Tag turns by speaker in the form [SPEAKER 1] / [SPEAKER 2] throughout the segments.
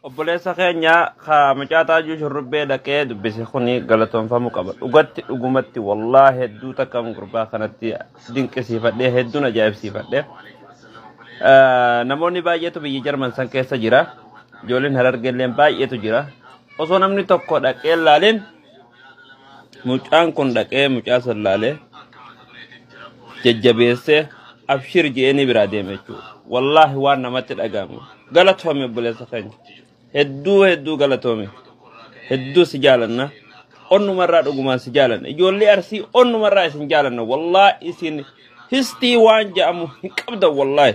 [SPEAKER 1] obboleessa keenya ka mucaa taajuu shurrubbee dhaqee dubbise kuni galatoomfamuu qaba dhugatti dhugumatti wallaa hedduu takka gurbaa kanatti dinqisiifadhee hedduun ajaa'ibsiifadhee Eh, namoonni baay'eetu biyya jarman san keessa jira ijoolleen harargeelleen baay'eetu jira osoo namni tokko dhaqee laaleen Mucaan kun dhaqee mucaa san laalee jajjabeessee abshir je'eenii biraa deeme jechuudha. Wallaahi waan namatti dhaga'amu. Galatoomi obboleessa keenya. Hedduu hedduu galatoomi. Hedduu si jaalanna. Onnumarraa dhugumaan si jaalanna. Ijoollee arsii onnumarraa isin jaalanna. Wallaahi isin histii waan ja'amu hin qabdan wallaahi.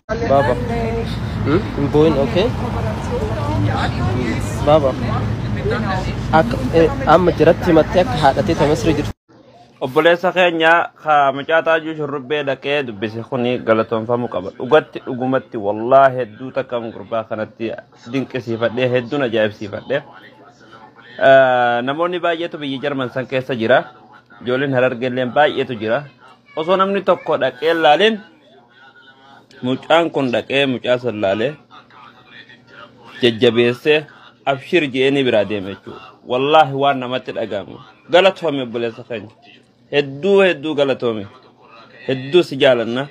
[SPEAKER 2] Baba. Hmm? Hin boo'in, okay? Baba. Akka eh, amma jiratti himattee akka haadhatee ta Misri jirtu. Obboleessa
[SPEAKER 1] keenya ka mucaa taajuu shurrubbee dhaqee dubbise kuni galatoomfamuu qaba. Dhugatti dhugumatti wallaa hedduu takka gurbaa kanatti dinqisiifadhee hedduun ajaa'ibsiifadhee. Eh, Namoonni baay'eetu biyya Jarman san keessa jira. Ijoolleen harargeelleen baay'eetu jira. Osoo namni tokko dhaqee laaleen Mucaan kun dhaqee mucaa san laalee jajjabeessee abshir je'eenii biraa deeme jechuudha. Wallaahi waan namatti dhaga'amu. Galatoomi obboleessa keenya. Hedduu hedduu galatoomi. Hedduu si jaalanna.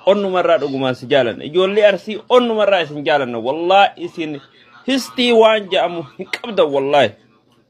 [SPEAKER 1] Onnumarraa dhugumaan si jaalanna. Ijoollee arsii onnumarraa isin jaalanna. Wallaahi isin histii waan ja'amu hin qabdan wallaahi.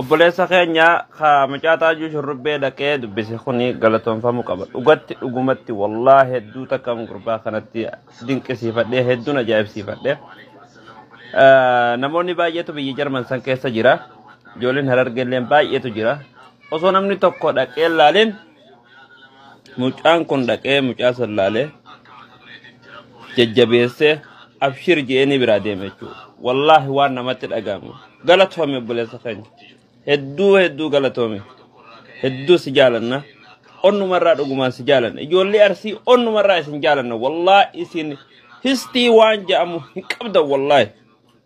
[SPEAKER 1] Obboleessa keenya ka mucaa taajuu shurrubbee dhaqee dubbise kuni galatoomfamuu qaba. Dhugatti dhugumatti wallaa hedduu takka gurbaa kanatti dinqisiifadhee hedduun ajaa'ibsiifadhee. Eh, Namoonni baay'eetu biyya Jarman san keessa jira. Ijoolleen harargeelleen baay'eetu jira. Osoo namni tokko dhaqee laalin Mucaan kun dhaqee mucaa san laalee jajjabeessee abshir je'eenii biraa deeme jechuudha. Wallaahi waan namatti dhaga'amu. Galatoomi obboleessa keenya. Hedduu hedduu galatoomi. Hedduu si jaalanna. Onnumarraa dhugumaan si jaalanna. Ijoollee arsii onnumarraa isin jaalanna. Wallaahi isin histii waan ja'amu hin qabdan wallaahi.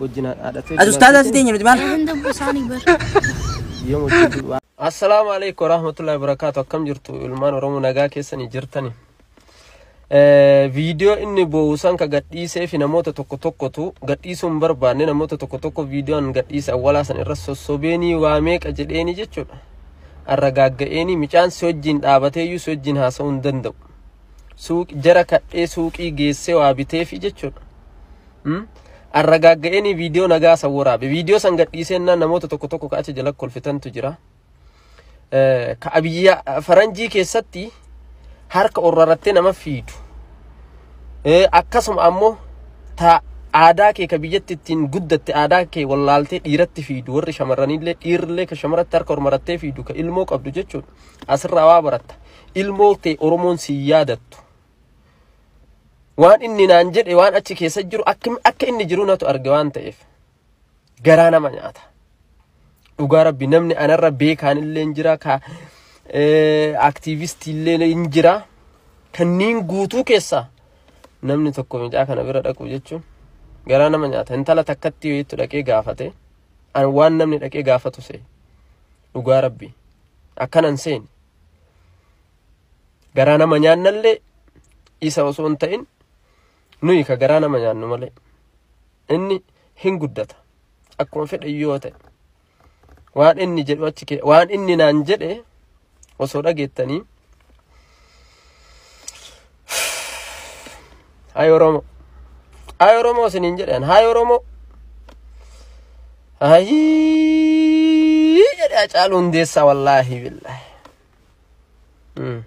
[SPEAKER 2] wajjin haadhatee As ustaazaa si teenya nuti maal?
[SPEAKER 3] Eegan dabbu
[SPEAKER 2] isaanii bar. Yoom wajjin du'u Assalaamu alaikum warahmatullahi wabarakatuh akkam jirtu ilmaan oromoo nagaa keessanii jirtani viidiyoo inni boo'usan ka gadhiisee fi namoota tokko tokkotu gadhiisuu hin barbaanne namoota tokko tokko viidiyoon gadhiise awwalaa san irra sossobeenii waa meeqa jedheenii jechuudha arra gaagga'eenii micaan si wajjin dhaabateeyyuu si wajjin haasa'uu hin danda'u suuq jara kadhee suuqii geessee waa biteefi jechuudha. Hmm? Arragaagga'eenii viidiyoo nagaa san waraabe. Viidiyoo san gadhiiseennaan namoota tokko tokko ka achi jala kolfitantu jira. Eh, Ka abiyyaa faranjii keessatti harka orrarattee nama fiidu. Eh, Akkasuma ammoo ta aadaa kee ka biyyatti ittiin guddatte aadaa kee wallaaltee dhiiratti fiidu warri shamarranillee dhiirrillee ka shamaratti harka ormarattee fiidu ka ilmoo qabdu jechuudha. Asirraa waa baratta. Ilmoon tee Oromoon si yaadattu. Waan inni naan jedhe waan achi keessa jiru akka akka inni jiru natu arge waan ta'eef garaa nama nyaata. Dhugaa rabbi namni anarra beekaan illee hin jira ka eh, aktiivistii illee hin jira kanneen guutuu keessaa namni tokko mucaa kana bira dhaqu jechuun garaa nama nyaata. Intala takkatti yoo itti dhaqee gaafate an waan namni dhaqee gaafatu se'e dhugaa rabbi akkanan seeni. garaa nama nyaannallee isa osoo hin ta'in nuyi ka garaa nama nyaannu malee inni hin guddata akkuma fedhe yoo ta'e waan inni jedhu achi kee waan inni naan jedhe osoo dhageettanii Hay Oromoo. Hay Oromoo isiniin jedhan. Hay Oromoo. Hayii jedhe Hacaaluu Hundeessaa wallaahi billaahi. Mm.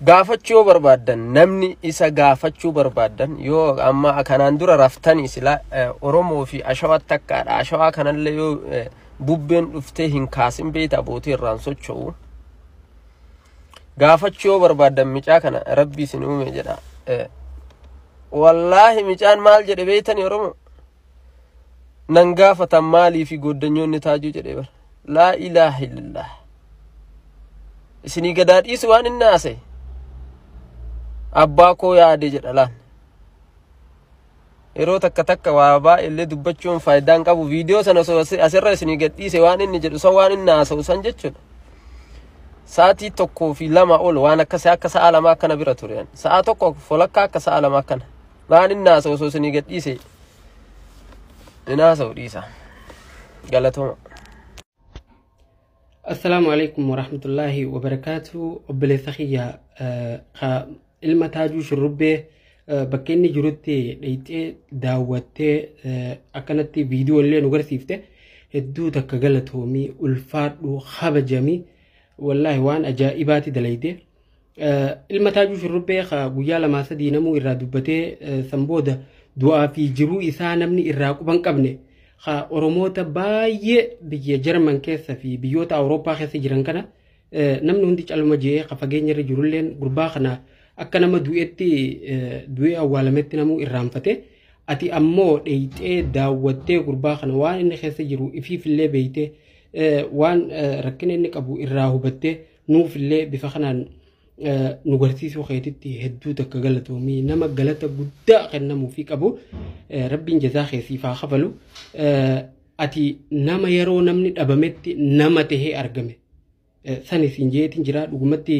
[SPEAKER 2] Gaafachuu yoo barbaaddan namni isa gaafachuu barbaaddan yoo amma kanaan dura raftanii silaa eh, Oromoo fi Ashawaa takkaadha. Ashawaa kanallee yoo eh, bubbeen dhuftee hin kaasin beekta abootii irraan socho'u. gaafachuu yoo barbaaddan micaa kana rabbi isin uume jedha wallaahi micaan maal jedhe beeytani oromo nan gaafatan maalii fi gooddanyoonni taajuu jedhe bar laa ilaaha illallah isinii gadaa dhiisu waan inni haasa'e abbaa koo yaade jedha laan yeroo takka takka waa baay'ee illee dubbachuun faayidaa hin qabu viidiyoo sana osoo asi- asirra isinii gadhiise waan inni jedhu san waan inni haasa'u san jechuudha sa'aatii tokkoo fi lama ol waan akkasii akka sa'a lama akkana bira ture ani. sa'a tokko folakkaa akka sa'a lama akkana waan inni haasa'u osoo isinii gadhiise hin haasa'u dhiisa galatooma
[SPEAKER 4] Assalaamu alaikum warahmatullaahi wabarakaatu obboleessa kiyya eh, ka ilma taajuu shurrubbee eh, bakka inni jirutti dheyxee daawwattee eh, akkanatti viidiyoo illee nu garsiifte hedduu takka galatoomii ulfaadhu kabajamii wallaahi waan ajaa'ibaati dalayde Ilma Taajuu Shurrubbee ka guyyaa lamaa sadii namuu irraa dubbatee san booda du'aa fi jiruu isaa namni irraa quban qabne ka Oromoota baay'ee biyya Jarman keessa fi biyyoota Awurooppaa keessa jiran kana namni hundi calma je'ee ka fageenya irra jirulleen gurbaa kana akka nama du'etti du'ee awwaalametti namuu irraanfate ati ammoo dheeyxee daawwattee gurbaa kana waan inni keessa jiru ifiifillee beeytee waan rakkina inni qabu irraa hubattee Nuuf illee bifa kanaan nu garsiisuu keetitti hedduu takka galatoomii nama galata guddaa kennamuu fi qabu rabbiin jazaa kee siif haa kafalu ati nama yeroo namni dhabametti nama tahee argame sani siin jeetiin jira dhugumatti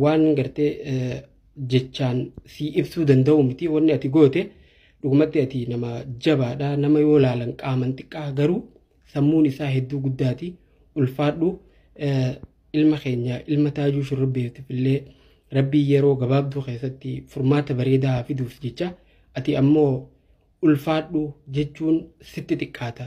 [SPEAKER 4] waan gartee jechaan sii ibsuu danda'u miti wanni ati goote dhugumatti ati nama jabaadha nama yoo laalan qaaman xiqqaa garuu sammuun isaa hedduu guddaati ulfaadhu ilma keenya ilma taajuu shurrubbeetiif illee rabbii yeroo gabaabduu keessatti furmaata bareedaa haa fiduuf jecha ati ammoo ulfaadhu jechuun sitti xiqqaata.